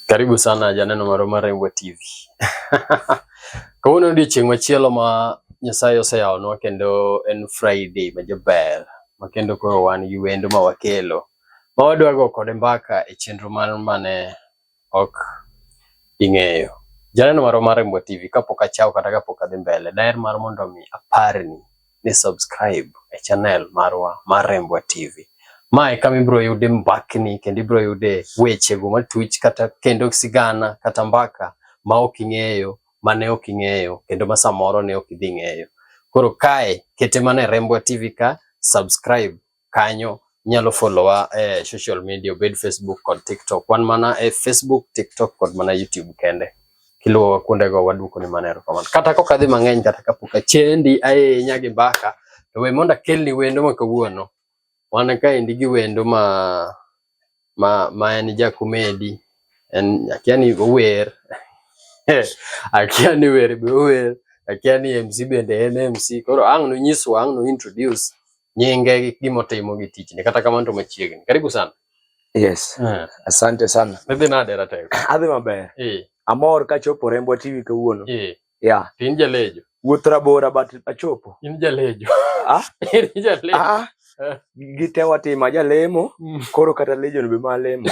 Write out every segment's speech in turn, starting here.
Karibu sana Janeno Maroma Rembo TV. Kawuono odiechieng' machielo ma Nyasaye oseyawonwa kendo en Friday ma jaber ma kendo koro wan gi wendo ma wakelo ma wadwa go kode mbaka e chenro mar mane ok ing'eyo. Janeno marwa mar Mbwa TV kapok achaw kata kapok adhi mbele, daher mar mondo mi aparni ni subscribe e channel marwa mar Mbwa TV. Ma e kama ibiro yude mbakni kendo ibiro yude wechego matuch kata kendo sigana kata mbaka ma ok ing'eyo, mane ok ing'eyo kendo ma samoro ne ok idhi ng'eyo. Koro kae kete mana e Rembwa TV ka, subscribe kanyo inyalo followa e eh, social media obed Facebook kod TikTok. Wan mana e Facebook, TikTok kod mana YouTube kende. Kiluwowa kuondego waduoko ni mana erokamano. Kata kok adhi mang'eny kata kapok achendi ahinya gi mbaka to we mondo akelni wendo ma kawuono. Wan kaendi gi wendo ma ma ma en jakomedi en akia ni ower akia ni wer be ower akia ni MC bende en MC koro ang' nonyiswa ang' no introduce nyinge gi gimotimo gi tichne kata kamano to machiegni karibu sana yes uh. asante sana idhi nade ratego adhi maber eh. amor kachopo Rembwa TV kawuono eh. Yeah. In jalejo. Wuoth rabora but achopo. In jalejo. Ah? In jalejo. Ah. Eh. Gite watimo ajalemo mm. koro kata lejo be ma lemo.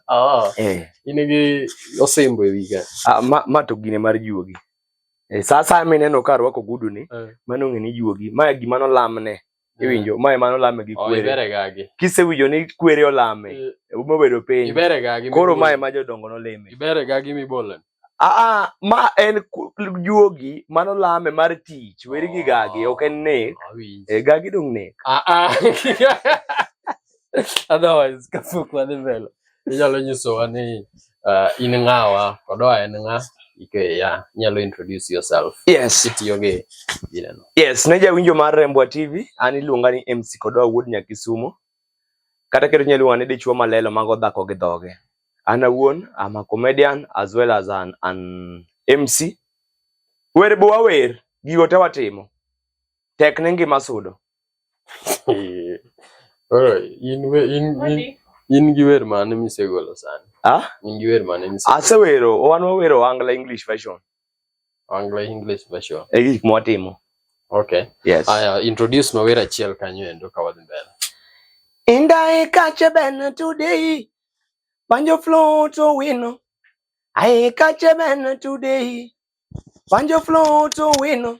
Ah. Eh. In gi osembo e wiga. Ah, ma, ma to gine mar juogi. Eh, sasa mineno ka rwako gudu ni, eh. mano ng'e ni juogi. Ma gima nolamne. iwinjo mae mano lame gi kwere kisewinjo ni kwere olame mobedo piny koro mae ma jodongo noleme Aa, ma en juogi mano lame mar tich weri gi gagi ok en nek e gagi dong nek otherwise kapok wadhi mbele Inyalo nyisowa ni uh, in ng'awa kod oa en ng'a? Ikeya, inyalo introduce yourself. Yes. Kitiyo gi gineno. Yes, ne jawinjo mar Rembwa TV, an iluonga ni MC Kodoa wuod Nyakisumo. Kata kendo inyalo luonga ni dichwo malelo mago dhako gi dhoge. An awuon, I'm a comedian as well as an, an MC. Wer be wawer, gigo te watimo. Tek ne ngima sudo. Oro, in we in in in gi wer mane misegolo sani? Ah? In gi wer mane misegolo? Asewero, wan wawero Angla English version. Angla English version. E gik mwatimo. Okay. Yes. Aya, introduce mawer achiel kanyo endo ka wadhi mbele. Indae kache ben today. Banjo flow to wino. Ae kache ben today. Banjo flow to wino.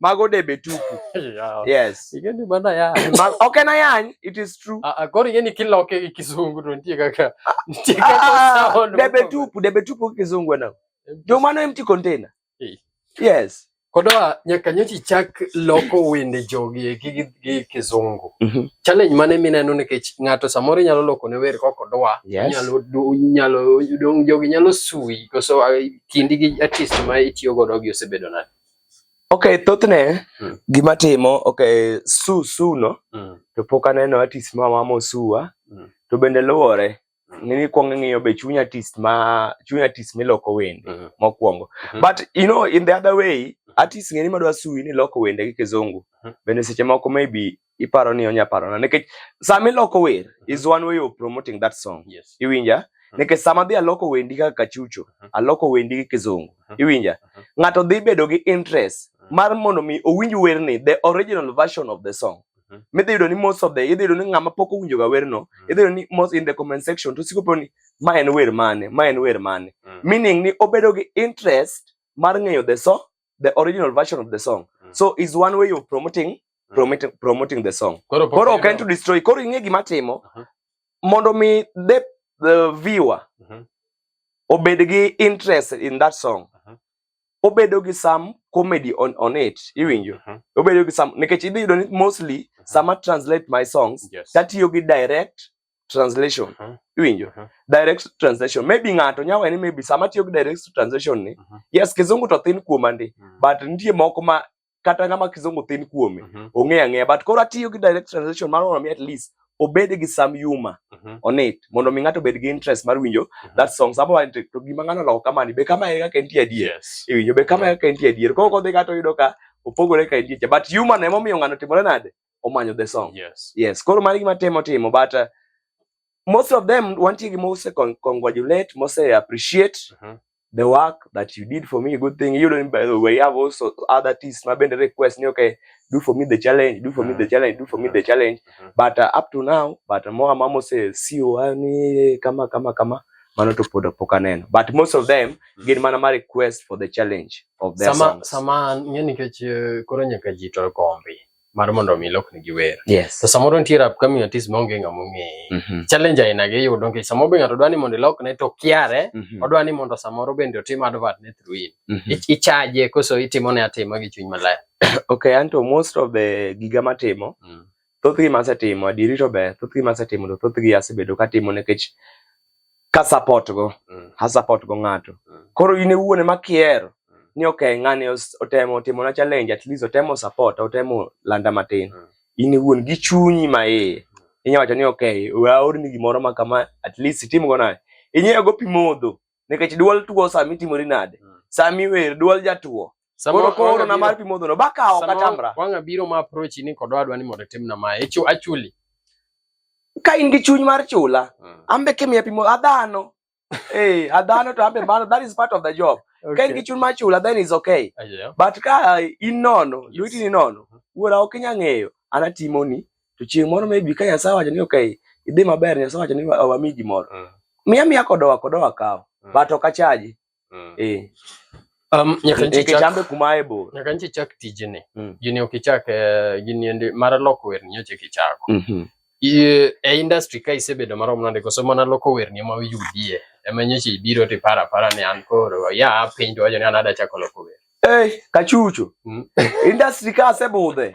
mago debe tupu yeah. yes igeni bana ya Ma, okay na yan it is true ah, ah koro igeni kila okay kizungu to nitie kaka nitie ah, kaka ah, sound debe tupu debe tupu kizungu na ndio maana empty container hey. yes kodoa nyaka nyochi chak loko wende jogi e gi gi kizungu mm -hmm. challenge mane mineno nikech ng'ato samoro nyalo loko ne wer koko doa yes. nyalo nyalo dong jogi nyalo sui koso kindi gi artist ma itiyo godo gi osebedo nani Okay, thothne mm. gima timo okay, su su no mm. to pok aneno artist ma mamo suwa mm. to bende luwore hmm. ni kwong ng'iyo be chunya artist ma chunya artist miloko wende mm. mokwongo mm -hmm. but you know in the other way hmm. artist ng'eni madwa suwi ni loko wende gi kizungu mm -hmm. bende seche moko maybe iparo ni onya paro na nikech sama iloko wer mhm. is one way of promoting that song yes. iwinja mhm. nikech sama dhi aloko wendi kaka kachucho mhm. aloko wendi gi kizungu iwinja ng'ato dhi bedo gi interest mar mondo mi owinj werni the original version of the song midhi yudo ni most of the idhi yudo ni ng'ama pok owinjoga werno idhi yudo ni most in the comment section to siko ni ma en wer mane ma en wer mane meaning ni obedo gi interest mar ng'eyo the song the original version of the song mm. so is one way of promoting mm. promoting, promoting the song koro koro ok en to destroy koro ing'e gima timo uh -huh. mondo mi the, the viewer uh -huh. obed gi interest in that song uh -huh. obedo gi some comedy on, on it iwinjo uh -huh. obedo gi some nikech idhi yudo ni mostly uh -huh. sama translate my songs yes. tatiyo gi direct translation uh -huh. iwinjo uh -huh. direct translation maybe ng'ato nya weni maybe sama tiyo gi direct translation ni uh -huh. yes kizungu to thin kuoma ndi uh -huh. but nitie moko ma kata ng'ama kizungu thin kuome uh mhm. -huh. ong'eyo ang'eya but koro atiyo gi direct translation mar mondo mi at least obed gi sam yuma uh mhm. -huh. on it mondo mi ng'ato obed gi interest mar winjo uh mhm. -huh. that song sama wanti to gima ng'ano loko kamani be kama eka kentie adier yes. iwinjo be kama eka kentie adier koro kodhi kata oyudo ka opogore ka entie but yuma na emomiyo ng'ano timore nade omanyo the song yes yes koro mari gima temo timo but uh, most of them wantie gi mose con congratulate mose appreciate uh mm-hmm. -huh. the work that you did for me good thing you don't by the way have also other artists my band request ni okay do for me the challenge do for uh -huh. me the mm-hmm. challenge do for uh -huh. me the mm-hmm. challenge uh -huh. but uh, up to now but more mamo say sio ani kama kama kama mano to pod pok aneno but most of them mm. gin mana ma request for the challenge of their sama, songs. Sama ng'e nikech eh, koro nyaka ji to kombi mar mondo mi lokni gi wer. Yes. To samoro nitie rap kami artist ma onge ng'ama ong'eye. Mm -hmm. Challenge aina gi yudo nikech samoro be ng'ato dwa ni mondo ilokne to kiare, mm -hmm. odwa ni mondo samoro bende otim advert ne through in. Mm -hmm. Ichaje koso itimo ne atima gi chuny maler. okay, anto most of the giga matimo. Mm. Thothgi masetimo, adiri to ber, thothgi masetimo to thothgi asebedo katimo nikech ka support go mm. ha support go ng'ato mm. koro in ewuone makier mm. ni okay ng'ani otemo timo na challenge at least otemo support otemo landa matin mm. in ewuon gi chunyi ma iye mm. inya wacho ni okay waorni gimoro ma kama at least itim go naye inyiewo go pi modho nikech duol tuo sami timori nade mm. sami wer duol jatuo Samoro koro na mar pi modho no baka o katamra. Wanga biro ma approach ni kodwa adwa ni mondo timna ma echo achuli. Ka in gi chuny mar chula, hmm. ambe kemiya pi modho adhano. Eh, adhano to ambe mano that is part of the job. Okay. Ka in gi chuny mar chula then is okay. Uh, yeah. But ka in nono, yes. lwiti ni nono, hmm. wuora ok inya ng'eyo, anatimoni. To chieng' moro maybe ka Nyasaye wacho ni okay, idhi maber, Nyasaye wacho ni wami gimoro. Mm. Miya miya kodowa kodowa kawo. Mm. But ok achaji. Mm. Eh. Um, nyaka nchi chambe kumaye bo. Nyaka nchi chak tijini. Mm. Gini okichak uh, eh, gini ende mara loko wer nyoche kichako. Mm -hmm. Iye, e industry ka isebedo marom nande koso mana loko wer ni ma uyudie. Ema nyoche ibiro ti para para ni an koro. Ya piny to wajo ni anada chako loko wer. Eh, hey, kachucho. Mm. industry ka asebudhe.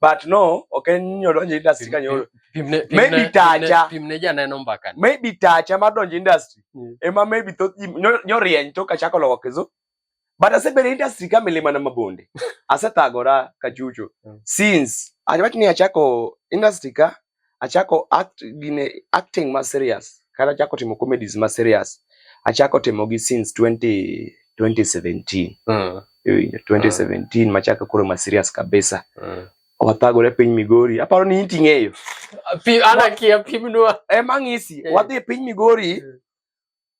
but no ok en nyodonjo industry ka nyoro maybe tacha pimne janeno mbaka maybe tacha mar donjo industry mm. ema maybe thoth ji nyorieny to kachako loko kizu but asebedo industry ka milima na mabonde asethagora kachucho mm. since achawach ni achako industry ka achako act gine acting ma serious kata achako timo comedies ma serious achako timo gi since 20 2017 mm. 2017 mm. machaka koro ma serious kabisa mm. wathagore piny Migori aparo ni inti ng'eyo ana kia pimnwa e mang'isi eh. wadhi piny Migori mm.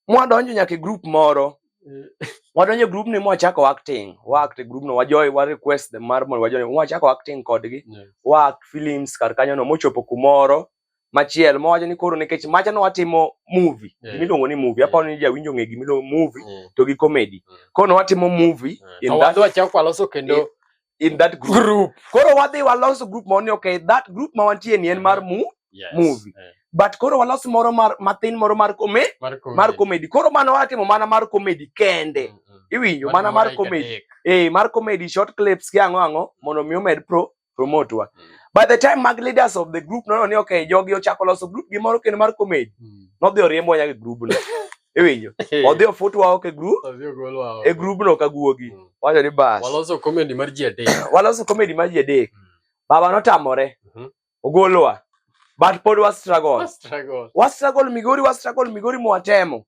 mwadonjo nyaka e group moro wadonjo e group ni mwachako acting waact e group no wajoy wa request them mar mondo wajoy mwachako acting kodgi waact films kar kanyo no mochopo kumoro machiel mowacho ni koro nikech macha no watimo movie yeah. gimiluongo ni movie yeah. aparo ni jawinjo ng'e gimiluongo movie yeah. to gi comedy yeah. koro watimo movie yeah. in that wachako waloso kendo yeah. in that group. Group. Koro wadhi walos group ma ni okay, that group ma wantie ni en mar mu yes. movie. Yeah. But koro walos moro mar matin moro mar kome mar comedy. Mar comedy. Koro mano watimo mana mar comedy kende. Mm -hmm. Iwinjo mana mar comedy. Eh, mar comedy short clips ki ango ango mondo mi omed pro promote wa. Mm. By the time mag leaders of the group nono ni okay, jogi ochako loso group gi moro kendo mar comedy. Mm. Nodhi oriembo nyaka group no. iwinjo odhi ofutwa oko e group e grubno ka guogi mm. wacho ni bas waloso comedy mar ji adek waloso comedy mar ji adek mm. baba notamore mm-hmm. ogolowa but pod wa struggle wa struggle migori wa struggle migori mwatemo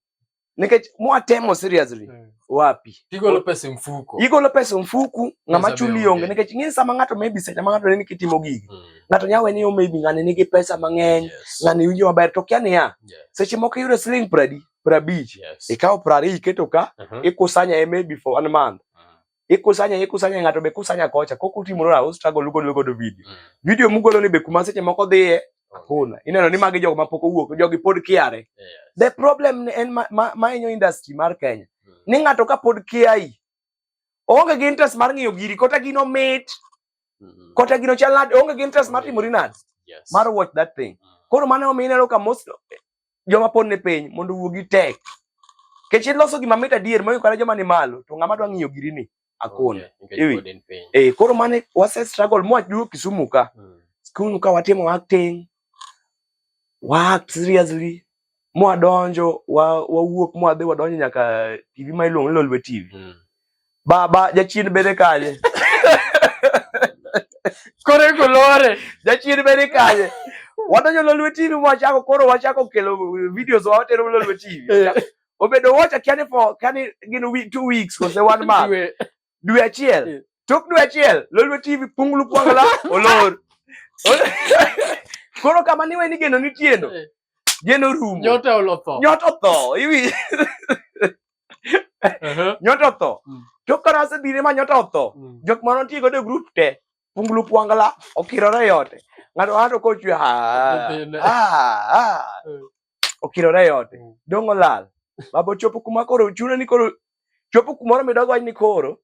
nikech mwatemo seriously mm. wapi igolo pesa e mfuko igolo pesa e mfuku ng'ama chuli onge nikech ing'e sama ng'ato maybe seche ma ng'ato ne kitimo gigi mm. ng'ato nya wene yo maybe ng'ani nigi pesa mang'eny yes. ng'ani winjo maber to kia niya yeah. seche moko iyudo siling pradi prabich yes. ikawo prari iketo ka uh -huh. ikusanya e maybe for one month uh -huh. ikusanya ikusanya ng'ato be kusanya kocha kok utimore au struggle ugolo godo video mm. video mugolo ni be kuma seche moko dhiye Hakuna. Okay. Ineno ni magi jogo ma pok owuok, jogi pod kiare. Yes. The problem en ma, ma, ma inyo industry mar Kenya. Hmm. Ni ng'ato ka pod kiai, onge gi interest mar ng'iyo giri, kota gino mit, hmm. kota gino chalad, onge gi interest mar timo rinad. Yes. Mar watch that thing. Hmm. Koro mane omi ineno ka most, joma pon ne piny mondo wuogi tek. Kech iloso gima mit adier moyo kare joma ni malo to ng'ama dwa ng'iyo giri ni akon. Okay, eh koro mane wase struggle mwa juu Kisumu ka. Hmm. Kisumu ka watimo acting. Work seriously. Mwa donjo wa wawuok mwa dhi wadonjo nyaka TV ma iluongo ni Lolwe TV. Hmm. Baba jachien bede kanye? Koro iko lore. Jachien bede kanye? Wadonjo Lolwe TV mwachako koro wachako kelo videos wa watero Lolwe TV. Eh. Obedo wacha kiani for kiani gin week two weeks kose one month. Dwe achiel. Eh. Tok dwe achiel Lolwe TV punglu kwangala olor. Koro kama niwe ni geno nitieno. Eh. Geno rumo. Nyota olotho. Nyota otho. Iwi. nyoto otho mm. tok ka nase bire ma nyoto otho mm. jok ma notiyo godo e grup te punglu pwangla okirore e ote ng'ato ng'ato kochwe ha mm. okirore e ote dong' olal babo chopo kuma koro chuno ni koro chopo kumoro midog wach ni koro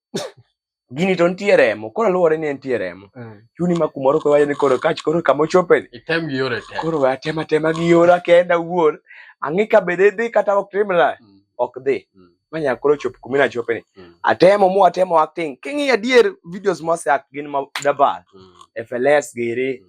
gini to nitie remo koro luwore ni nitie remo mm. chuni ma kumoro koro ni koro kach koro kama ochope ni item gi yore te koro atema tema gi yora kenda wuon ang'e ka bede dhi kata ok timra mm. ok dhi mm. manya koro chop kumi na chope ni mm. atemo mu atemo acting kingi adier videos mose ak gin ma dabar mm. FLS giri mm.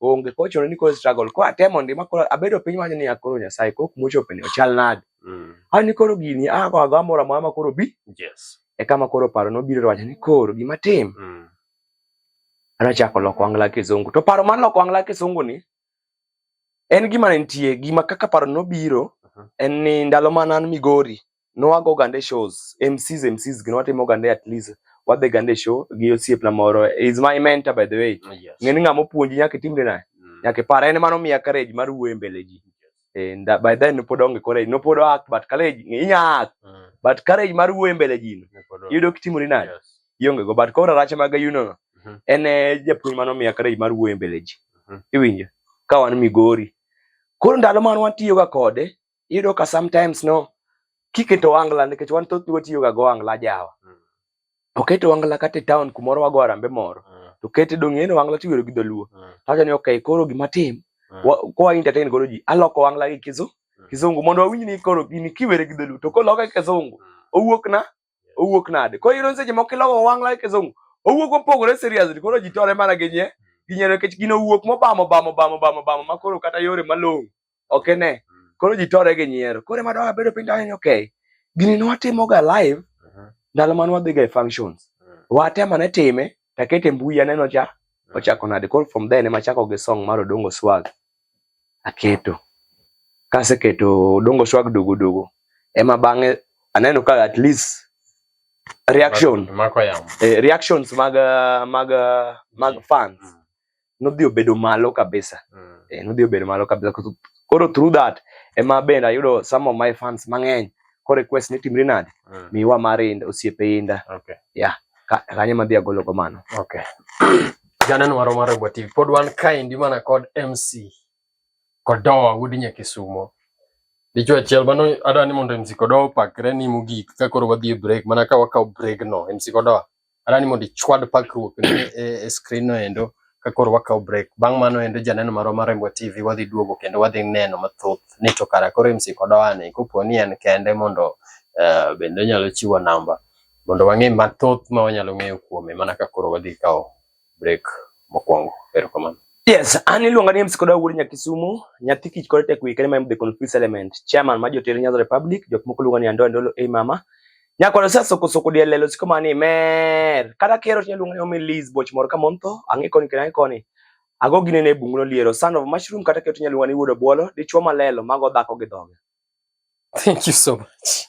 onge koro chuno ni koro struggle koro atemo ndi ma koro abedo piny wacho ni akoro nyasaye koro kuma ochopo ni ochal nade mm. ani ah, koro gini ako ah, ago amora mama koro bi yes e kama koro paro nobiro wacho ni koro gima tim mm. anachako loko angla kizungu to paro mar loko angla kizungu ni en gima nitie gima kaka paro nobiro uh -huh. en ni ndalo ma nan migori nwago gande shows MCs MCs gin watimo gande at least wadhi gande show gi osiepna moro is my mentor by the way oh, yes. ng'eni ng'ama opuonji nyaka itimre naye mm. nyaka ipar en mano miya courage mar wuoyo e mbele ji and uh, by then nopod onge courage nopod act but courage inya act mm. but courage mar wuoyo e mbele ji yudo kitimori nade yes. ionge go but koro rache mag ayuno no mm -hmm. en eh, japuonj mano miya courage mar wuoyo e mbele ji mm -hmm. iwinjo ka wan Migori koro ndalo man watiyoga kode iyudo ka sometimes no kiketo wangla nikech wan thoth watiyo ga go wangla jawa mm. oketo wangla kata e town kumoro wago arambe moro mm. to kete dong eno wangla tiwero gi dholuo mm. tawacho ni okay koro gima tim mm. kwa entertain godo ji aloko wangla gi kizu mm. kizungu mondo wawinj ni koro gini kiwere gi dholuo to koloke kizungu mm. owuok na owuok nade koro iro seche moko ilogo wang' like zongo owuok opogore seriously koro ji tore mana gi nye gi nyero nikech gino owuok mobamo bamo bamo bamo bamo ma koro kata yore malong'o ok ene mm. koro ji tore gi nyiero koro ema dwa bedo piny dwa ni okay gini ne watimoga live ndalo mane wadhiga e functions mm. watema ne time Takete mbui aneno cha ochako nade koro from there ne machako gi song mar Odongo Swag aketo kaseketo Odongo Swag dogo dogo ema bang'e aneno ka at least reaction eh, reactions mag mag mag fans mm. nodhi obedo malo kabisa mm. eh, nodhi obedo malo kabisa koro through that ema bende ayudo some of my fans mang'eny ko request ni timri nade mm. miwa mar inda osiepe inda okay. yeah kanyo madhi agolo go mano okay. janen waro mar Rebwa TV pod wan kaendi mana kod MC Kodowa wuod Nyakisumo dichuo achiel mano adwa ni mondo MC Kodowa opakre ni mogik ka koro wadhi e break mana ka wakawo break no MC Kodowa Ara ni mondo ichwad pakruok ni e, e screen no endo ka koro wakawo break. Bang' mano endo janeno marwa mar Rembwa TV wadhi duogo kendo wadhi neno mathoth ni to kara koro MC Kodowani kopo ni en kende mondo uh, bende onyalo chiwo namba mondo wang'e mathoth ma wanyalo ng'eyo kuome mana ka koro wadhi kawo break mokwongo. Erokamano. Yes, an iluonga ni MC Koda Wuod Nyakisumu, nyathi kich kod tek wika ma the confused element, chairman ma jotere Nyanza Republic, jok moko luonga ni Ando Andolo ei mama. Nyakwaro sa soko soko diel lelo siko mani mer. Kata kero tinya luonga ni Omi Liz boch moro ka monto, ang'e koni kena koni. Ago gine ne bungu no liero, son of mushroom kata kero tinya luonga ni Wuod Obwolo, dichwo malelo mago dhako gi dhoge. Thank you so much.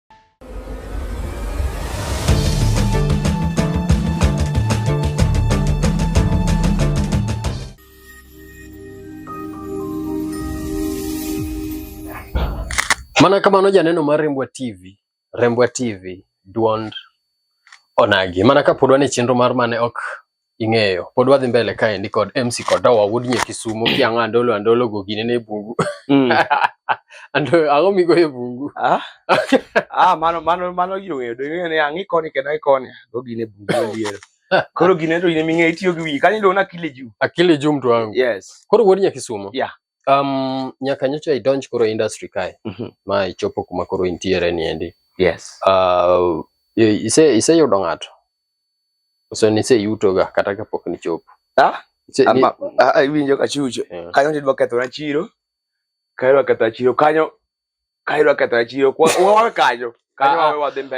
Mana kamano janeno mar Rembwa TV, Rembwa TV duond onagi. Mana kapod wan e chenro mar mane ok ing'eyo pod wadhi mbele kaendi kod MC Kodowa wuod nye Kisumo kiang'a andolo andolo go gine ne bungu mm. ando ang'o migo e bungu ah ah mano mano mano gino ng'eyo do ng'eyo ne ang'i koni kendo ai koni go gine bungu liero koro gine to ine ming'e itiyo gi wiyi kanyo ndo na akili juu akili juu mtu wangu yes koro wuod nye Kisumo yeah Um, nyaka nyocha idonj koro industry kae mm -hmm. ma ichopo kuma koro intiere ni endi. Yes. Uh, ise ise yudo ng'ato. Ose ni ise yuto ga kata ka pok ni chop. Ah? Ise ama ah, ah, iwinjo ka chucho. Yeah. Kanyo ndidwa ketho na chiro. Kairo ketho chiro kanyo kaidwa ketho e chiro wawe kanyo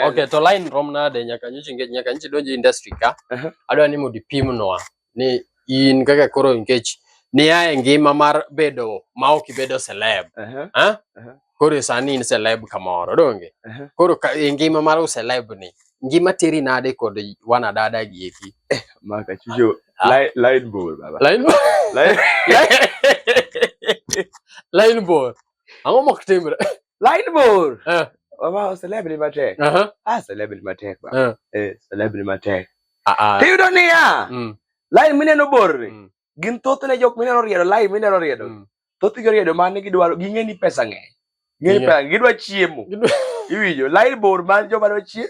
Okay, to line rom nade nyaka nyichi nyaka nyichi donje industry ka. Uh -huh. Adwa ni mondo ipimnwa ni in kaka koro nikech ni ae ngima mar bedo ma ok ibedo celeb. Uh -huh. Ha? Uh -huh. Koro sani in celeb kamoro donge? Uh -huh. Koro ka, e ngima mar celeb ni ngima teri nade kod wana dada gi eki. Eh, maka chujo line line ball baba. Line ball. Line line ball. Ang'o mok timre? Line bor. Eh. Baba celeb ni matek. Aha. Ah celeb ni matek ba. Eh. Eh celeb ni matek. Ah ah. Tiyudo niya. Mm. Line mineno bor ni. Mm. Gin thothne jok mineno riedo line mineno riedo. Mm. Thoth gi riedo mane gidwaro ging'e ni pesa ng'eny. Ng'e ni pesa gidwa chiemo. Iwinjo line bor man joma dwa chiemo.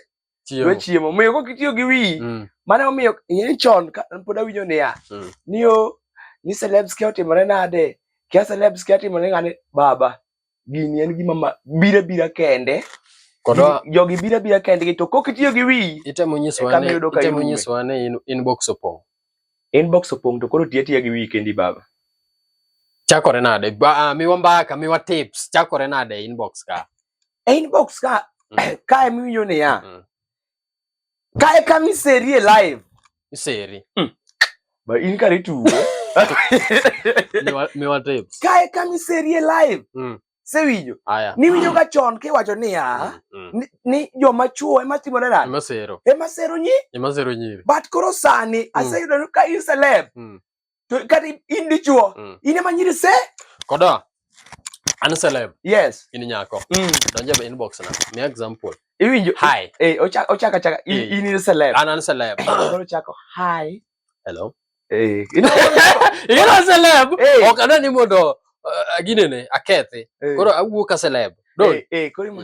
dwa chiemo omiyo kok itiyo gi wiyi mm. mane omiyo ing'eni chon pod awinjo niya mm. niyo ni celebs kia otimore nade kia celebs kia timore ng'ane baba gini en gima bira bira kende jogi bira bira kende to kok itiyo gi wiyi itemo nyisowa ni inbox opong' inbox opong' to koro tiya tiya gi wiyi kendi baba chakore nade ah, miwa mbaka miwa tips chakore nade inbox ka e inbox ka mm. kae miwinjo niya mm. kae kama iserie live iseri mm. ba in kare tugo miwa tips kae kama iserie live mm. sewinjo niwinjo ka chon kiwacho niya mm, mm. ni joma chuo ema timore nade ema sero nyi ema sero nyiri but koro sani mm. aseyudo ka in celeb mm. to kata in dichuo mm. in ema nyiri se kodo an celeb yes in nyako mm. donje be inbox na mi example iwinjo hi eh ochaka ochaka chaka in, eh. in celeb an an celeb koro chako hi hello eh in a celeb eh. ok adwa ni mondo uh, ginene akethi eh. koro awuo ka celeb don eh, eh koro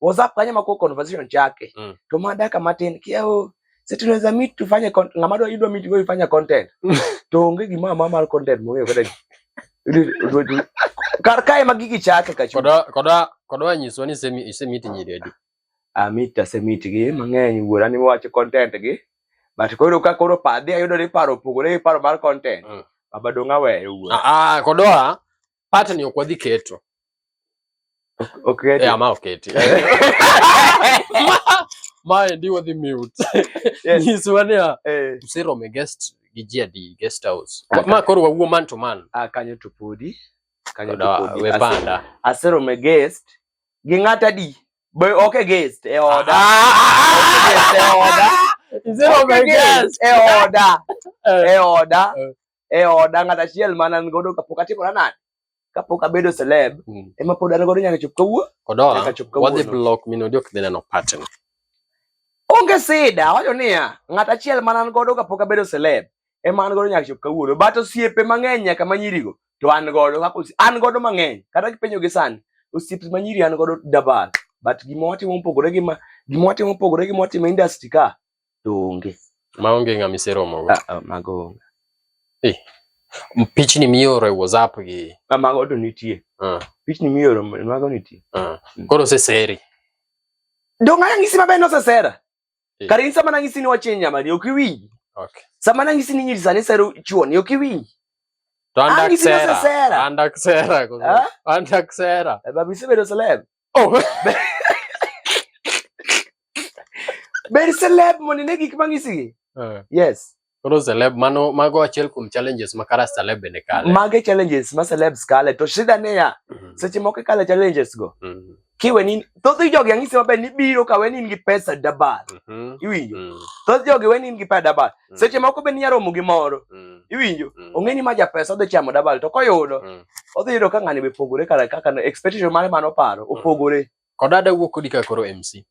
WhatsApp kanya mako conversation chake. Mm. To mada kama tin kiao sasa tunaweza meet tufanye content. Ngama do idwa meet wewe fanya content. Tuongee gima mama content mwe kwa karkae magigi chake kachu koda koda koda wanyiso ni semi isemiti nyiri adi amita ah, semiti gi mang'eny wuora ni wacho content gi but koro ka koro padhi ayudo ni paro opogore gi paro mar content mm. baba dong aweyo wuora ah, ah kodoa Pata ni okwadhi keto. Oketi. Yeah, ma oketi. Ma ndi wadhi mute. Yes. Nyiswa ni a Eh, msero me guest gi ji adi guest house. Ah, Ma koro wawuo man to man. ah, kanyo to podi. Kanyo to Koda podi. we Ase- panda. Asero me guest. Gi ng'ata di. Be ok e guest e oda. Guest e oda. Msero me Okay, guest. E oda. Eh, E oda. Eh. e oda ng'at achiel ma nan godo kapok atimora nade kapok abedo celeb mm. ema pod an godo nyaka chop kawuo odola wadhi block min odi ok dhi neno pattern onge sida wacho niya ng'at achiel ma nan godo kapok abedo celeb ema an godo nyaka chop kawuono but osiepe mang'eny nyaka ma nyirigo to an godo kaka an godo mang'eny kata kipenjo gi sani osiepe ma nyiri an godo dabal but gima watimo mopogore gi ma gima watimo mopogore gi ma watimo industry ka to onge. Maonge ng'ama iseromogo? Ah, ah, mago onge. Eh, pichni mioro e WhatsApp gi. Ah, mago to nitie. Ah. Pichni mioro mago nitie. Ah. Mm. Koro oseseri. Donga nang'isi maber ni osesera. Eh. Kare in sama nang'isi ni wachiny nyamani ok iwinji. Okay. Sama nang'isi ni nyiri sani sero chuoni ok iwinji. To andak sera. Andak sera. Andak sera. Eh, babi isebedo celeb. Oh. Ber celeb mondo ine gik mang'isigi. Eh. Yes. Koro celeb mano mago achiel kuom challenges ma kara celeb bende kale. Mage challenges ma celebs kale to shida ne ya. Mm. Seche moko kale challenges go. Mm. Kiwe ni thoth jogi ang'isi maber ni biro ka weni in gi pesa dabal. Mm -hmm. Iwinjo. Mm. Thoth jogi weni in gi pesa dabal. mm. seche moko be ninya romo gi moro mm. iwinjo mm. ong'e ni ma ja pesa odhi chamo dabal to koyudo mm. odhi yudo ka ng'ani be pogore kara kaka expectation mare mano paro mm. opogore kod ada wuok kodi ka koro MC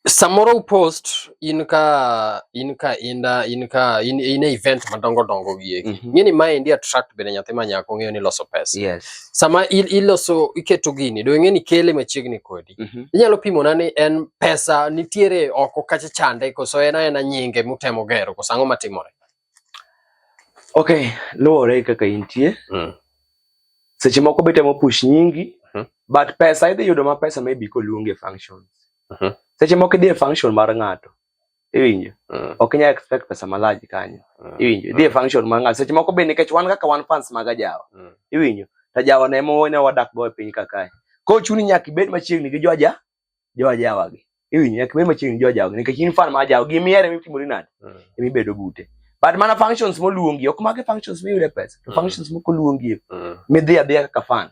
samoro post in ka in ka inda in ka in, in event madongo dongo gi mm -hmm. ng'eni ma endi attract bende nyathi ma nyako ng'eyo ni loso pesa yes sama iloso iketo gini do ng'eni kele machiegni kodi wapi? mm -hmm. Inyalo pimona ni en pesa nitiere oko kacha chande koso en aena nyinge mutemo gero koso ang'o matimore? Okay, luwore kaka intie mm. Seche moko be temo push nyingi mm -hmm. but pesa idhi yudo ma pesa maybe koluonge functions mm -hmm. Seche moko idhi e function mar ng'ato iwinjo mm. ok inyal expect pesa malaji kanyo mm. iwinjo dhi e mm. function mar ng'ato seche moko be nikech wan kaka wan fans mag ajawa mm. iwinjo to ajawa ne ema wane wadak go e piny ka kae koro chuni nyaka ibed machiegni gi jo aja jo ajawa gi iwinjo nyaka ibed machiegni gi jo ajawa gi nikech in fan ma ajawa gi miere ema itimori nade mm. ema ibedo bute but mana functions moluongi ok mage functions miyude pesa to mm. functions moko luongi e. mm. midhi adhiya kaka fan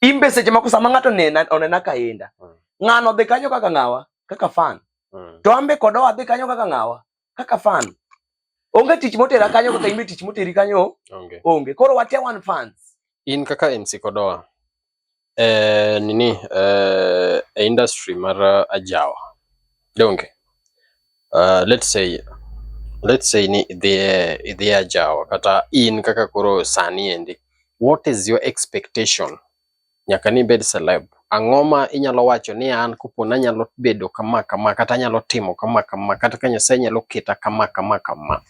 imbe seche moko sama ng'ato onena onena kaenda mm. ng'ano dhi kanyo kaka ng'awa kaka fan Mm. To ambe kodo adhi kanyo kaka ngawa, kaka fan. Onge tich motera kanyo kaka imi tich moteri kanyo. Onge. Onge. Koro wate one fans. In kaka MC Kodoa. Eh, nini eh, e industry mar uh, ajawa. Donge. Uh, let's say let's say ni idhie idhie ajawa kata in kaka koro sani endi. What is your expectation nyaka ni ibed celeb. Ang'o ma inyalo wacho ni an kopo nanyalo bedo kama kama kata anyalo timo kama kama kata ka Nyasaye nyalo keta kama kama kama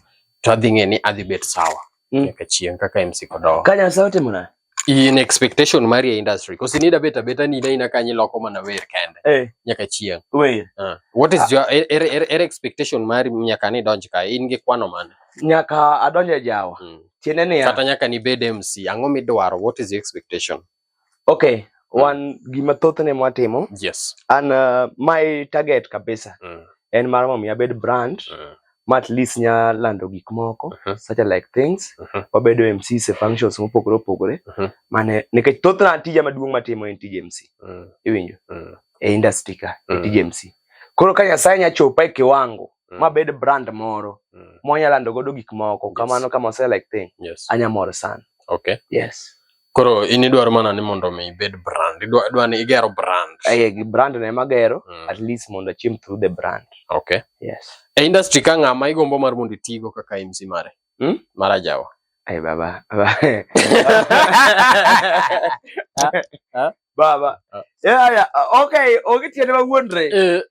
to adhi ng'e ni adhi bet sawa mm. nyaka chieng' kaka MC Kodowa. Ka Nyasaye otimo na in expectation mari e industry because inida beta beta ni na ina kanyi loko mana wer kende hey. Eh. nyaka chieng wer uh, ah. what is uh, your er, er, er, er expectation mari nyaka ni donj ka in gi kwano mane nyaka adonje jawa mm. tiende niya kata nyaka nibed mc ang'o midwaro what is your expectation okay mm. wan gima thothne mwatimo yes and uh, my target kabisa mm. en mar mondo abed brand mm. ma at least nya lando gik moko uh -huh. such like things uh -huh. wabedo mc se functions mopogore opogore uh -huh. mane nikech thothna tija maduong' matimo en tij mc mm. iwinjo mm. e industry ka mm. tij mc koro ka nyasaye nyachopa e kiwango mm. ma bed brand moro mm. mwanya lando godo gik moko yes. kamano kama ose like thing yes. anya mor sana okay yes koro in idwaro mana ni mondo mi ibed brand idwa ni igero brand eh gi brand ne magero mm. at least mondo achim through the brand okay yes e industry ka ng'ama igombo mar mondo itigo kaka MC mare mm? mara jawa Ay, baba. Baba. baba. Yeah, yeah. Okay, okay, tiene ba wondre. Eh.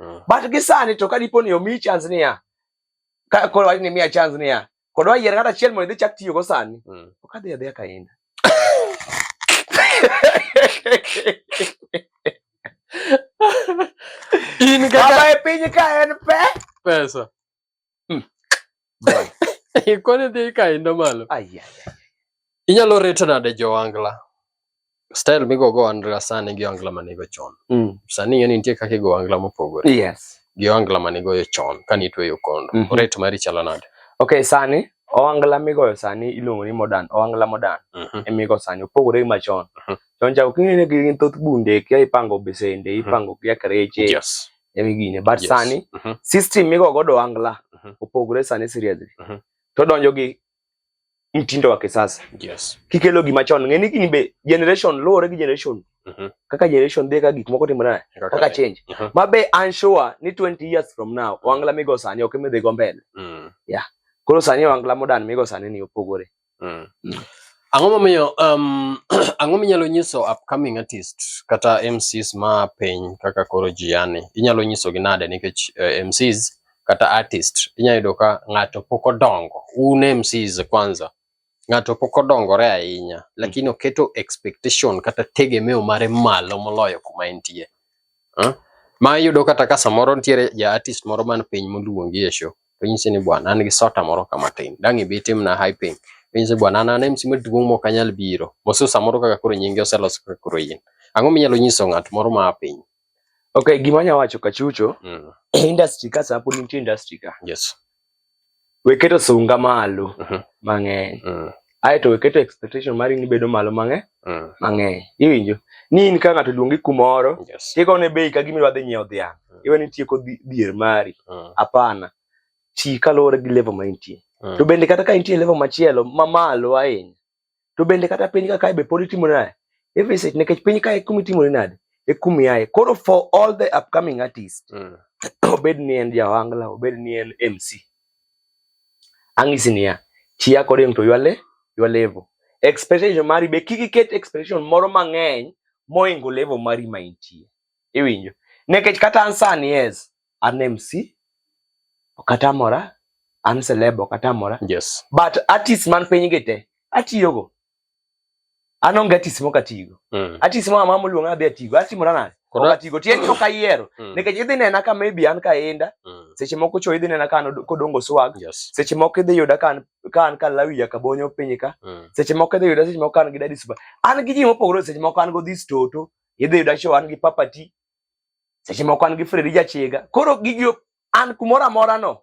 Mm. But gisani to kadipo ni omi chance niya, ka koro wach ni miya chance niya, kod wayier kata achiel mondo idhi chak tiyo go sani, mm. ok adhi adhiya kainda. In kaka e piny ka en pe pesa Hmm. Ikone dhi kaindo malo. Inyalo reto nade jowangla? Style migo go angla sani gi angla manigo chon. Mm. Sani ng'e ni nitie kaka igo angla mopogore. Yes. Gi angla manigo yo chon kani itweyo kondo. Mm -hmm. Rate mari chalo nade? Okay, sani owangla migoyo sani iluongo ni modern, owangla modern. Mm -hmm. Emigo sani opogore gi machon. Mm -hmm. Chon cha ok ing'e ni gin thoth bunde kia ipango besende, mhm. ipango kia kreche. Yes. emi gine but yes. sani uh mhm. -huh. system migo godo angla uh mhm. -huh. opogore sani seriously uh mhm. -huh. to donjo gi mtindo wa kisasa yes. kikelo gima chon ng'eni gini be generation luwore gi generation uh -huh. kaka generation dhi ka gik moko timore naye okay. kaka change uh -huh. ma be an sure ni 20 years from now wangla migo sani ok midhi go mbele mm. yeah koro sani wangla modern migo sani ni opogore Mm. Mm. Ang'o momiyo um, ang'o minyalo nyiso upcoming artist kata MCs ma piny kaka koro Gianni? Inyalo nyisogi nade nikech uh, eh, MCs kata artist inyalo yudo ka ng'ato pok odongo. Un MCs kwanza ng'ato pok odongore ahinya lakini mm. oketo expectation kata tegemeo mare malo moloyo kuma entie. Huh? Ma iyudo kata ka samoro nitiere ja artist moro man piny moluongi e show To nyise ni bwana, an gi sota moro kama tin. Dang' ibi timna hyping. To nyise bwana, an an MC maduong' mok anyal biro. Mosu samoro kaka koro nyingi oselos kaka koro in. Ang'o minyalo nyiso ng'at moro ma a piny? Okay, gima anya wacho kachucho, Mm. industry ka sapo nitie industry ka. Yes. We keto sunga malo Mhm. mang'eny. Mm. ae to iketo expectation mari ni bedo malo mang'eny mm. mang'eny iwinjo ni in ka ng'ato luongi kumoro yes. tikone bei ka gima idwa dhi nyiewo dhiang' mm. iwe ni tieko dhier mari mm. apana mm. ti kaluwore gi level ma intie mm. to bende kata ka intie level machielo mamalo ahinya to bende kata piny ka kae be pod itimo naye every set nikech piny kae kuma itimore nade e kuma iaye koro for all the upcoming artist mm. obed ni en jawangla obed ni en mc Ang'isi niya, chia kode to ywale ywa level. Expectation mari be kik iket expectation moro mang'eny moingo level mari ma intie. Iwinjo? Nekech kata an sani yes, an MC, ok atamora, an celeb ok atamora. Yes. But artist man piny gi te, atiyogo. an onge atis mok atigo mm. atis moro amamo luong adhi atigo atimora nade ok atigo tieni ok ayiero mm. nikech idhi nena ka maybe an ka inda mm. seche moko cho idhi nena ka an kodongo swag seche moko idhi yuda ka an ka lawi ya kabonyo piny ka seche moko idhi yuda seche moko an gi dadi super an gi ji mopogore seche moko an go this toto idhi yuda cho an gi papati seche moko an gi fredi jachiga koro gigi an kumoro amora no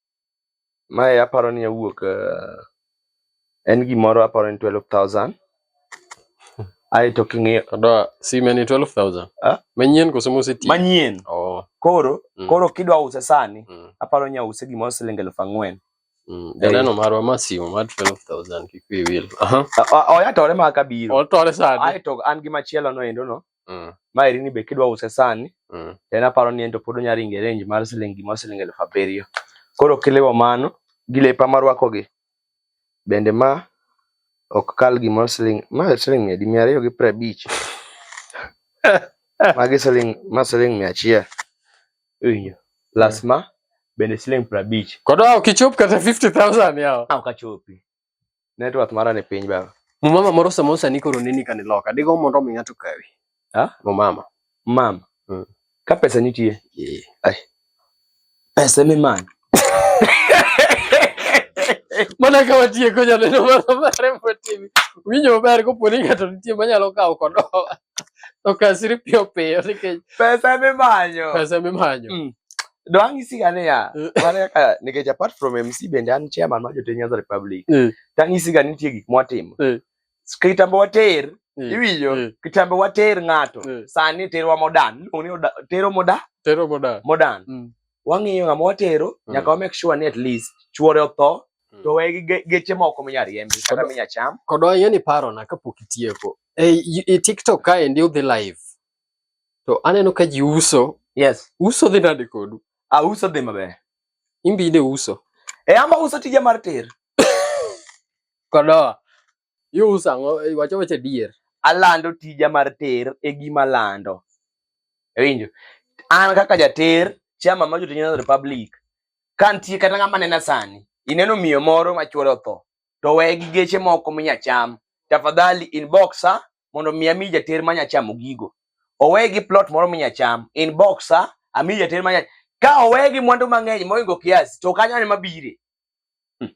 Mae aparo ni owuok eh, en gimoro aparo ni 12,000. Ae to king'iyo Odoa sime ni 12,000. Ah? Manyien koso moseti? manyien Oh. koro Mm. koro kidwa use sani Mm. aparo ni ause gimoro siling elfu ang'wen. Mm. Janeno marwa ma simo mar 12,000 kik wiyi wil. Aha. O- o- Oyatore ma kabiro. Otore sadi. Ae to an gi machielo no endo no. Mm. Ma irini be kidwa use sani, mm. en aparo ni en to pod onya ringe range mar siling gima siling elfu abiriyo. Koro kiliwo mano gi lepa marwako gi. Bende ma ok kal gima siling ma siling mia di mia ariyo gi piero abich. Magi siling ma siling mia achiel. Iwinjo? Plus ma bende siling piero abich. Kod ok ichop kata 50,000 yawa. Ah, ok achopi. Network mara ni piny baba. Mumama moro samoro sani koro nini kani loka. Digo mondo mi ng'ato kawi. Ha? Mumama. Mama. Mm. Ka pesa nitie. Yeah. Ai. Pesa mi man. Mana ka watieko janeno mano mare motimi. Winjo maber koponi ng'ato nitie manyalo kawo kodowa. Okasiri piyo piyo nikech pesa eme manyo. Pesa eme manyo. Mm. Dwangi siga ne ya. Mm. Mane kaka nikech apart from MC bende an chairman ma jotend Nyanza Republic. Mm. Tangi siga nitie gik mwatimo. Mm. Kitambo water mm. iwinjo mm. kitambo water ng'ato mm. sani terwa modan. Oni oda, tero moda. Tero moda. Modan. Mm. Wang'iyo ng'ama watero mm. nyaka wa make sure ni at least chuore otho mm. to wegi geche moko minya riembi kata minya cham. Kodwa yeni paro na kapok itieko. Eh, y- e TikTok kaendi udhi live. To aneno ka ji uso. Yes. Uso dhi nade kodu? Ah, uso dhi maber. Imbi ine uso. E ama uso tija mar ter. Kodoa. Iuso ang'o? Eh, Wacho wacho adier. Alando tija mar ter e gima lando. Ewinjo. An kaka jater, chama ma jotich Nyanza Republic, ka nitie kata ng'ama nena sani, ineno miyo moro ma chwore otho, to we gi geche moko minyacham tafadhali inbox ha mondo mi ami jater ma nyachamo gigo owe gi plot moro minyacham inbox ha ami jater ma ka owe gi mwandu mang'eny moingo kiasi to kanyo ne mabire hmm.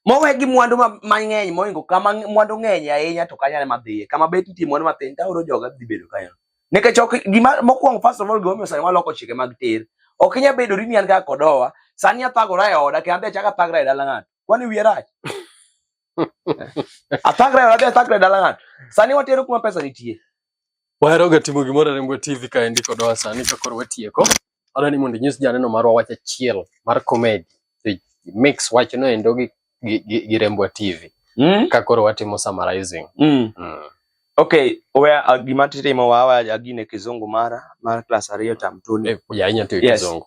mowe gi mwandu mang'eny moingo kama mwandu ng'eny ahinya to kanyo ne madhiye kama bet nitie mwandu matin taoro joga dhi bedo kanyo nikech ok gima mokwongo first of all gimomiyo sani waloko chike mag ter ok inya bedo ri ni an kaka kodowa sani athagora e oda kendo adhi achaka thagra e dala ng'ato Kwani wiye rach? Athagre wadhi athagre dala ng'ato. Sani watero kuma pesa nitie. Waheroga timo gimoro rembo TV ka endi kodwa sani ka koro watieko. Adwa ni mondo inyis janeno marwa wach achiel mar comedy. To mix wach no endo gi gi, gi, gi rembo TV. Mm? Ka koro watimo summarizing. Mm. Mm. Okay, we uh, gima titimo wawa agine kizungu mara mar class ariyo tam tuni. Eh, ya inya tiyo Yes. kizungu.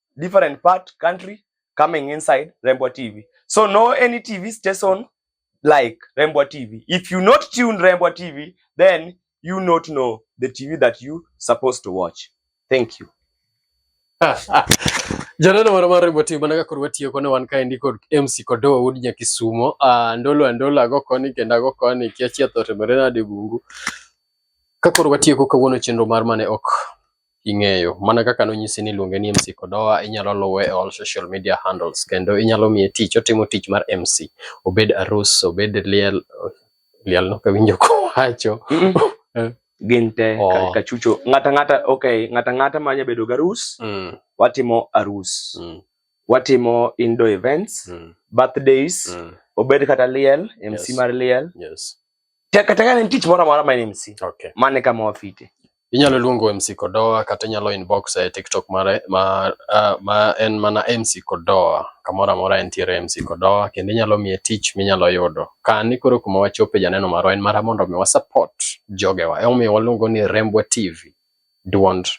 different part country coming inside Rembwa TV. So no any TV station like Rembwa TV. If you not tune Rembwa TV, then you not know the TV that you supposed to watch. Thank you. Janeno moro mar Rembwa TV mana ka koro watiyo kone wan kaendi kod MC Kodowa wuod Nyakisumo. Uh, ah, ndolo andola ago koni kendo ago koni kiachia thotemere nade bungu. Ka koro watieko kawuono chenro mar mane ok ing'eyo. Mana kaka nonyisi ni iluonge ni MC Kodowa, inyalo luwe e all social media handles kendo inyalo miye tich, otimo tich mar MC. Obed arus, obed liel, liel nok awinjo kowacho. Eh. Gin te oh. kachucho. Ng'ata ng'ata, okay, ng'ata ng'ata ma nyabedo garus, mm. watimo arus. Mm. Watimo indo events, mm. birthdays, mm. obed kata liel, MC yes. mar liel. Yes. kata ka ne tich moro amora ma en MC okay. mane kama wafite inyalo luongo MC Kodoa kata inyalo inbox e TikTok mare ma, uh, ma en mana MC Kodoa kamoro amora entiere MC Kodoa kendo inyalo miye tich minyalo yudo ka ni koro kuma wachope janeno marwa en mara mondo mi wasupport jogewa emomiyo waluongo ni Rembwa TV duond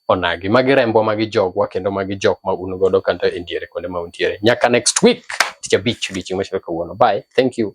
onagi magi rembo magi jogwa kendo magi jok ma un godo kata e diere kuonde ma untiere nyaka next week tich abich odiochieng' machielo kawuono bye thank you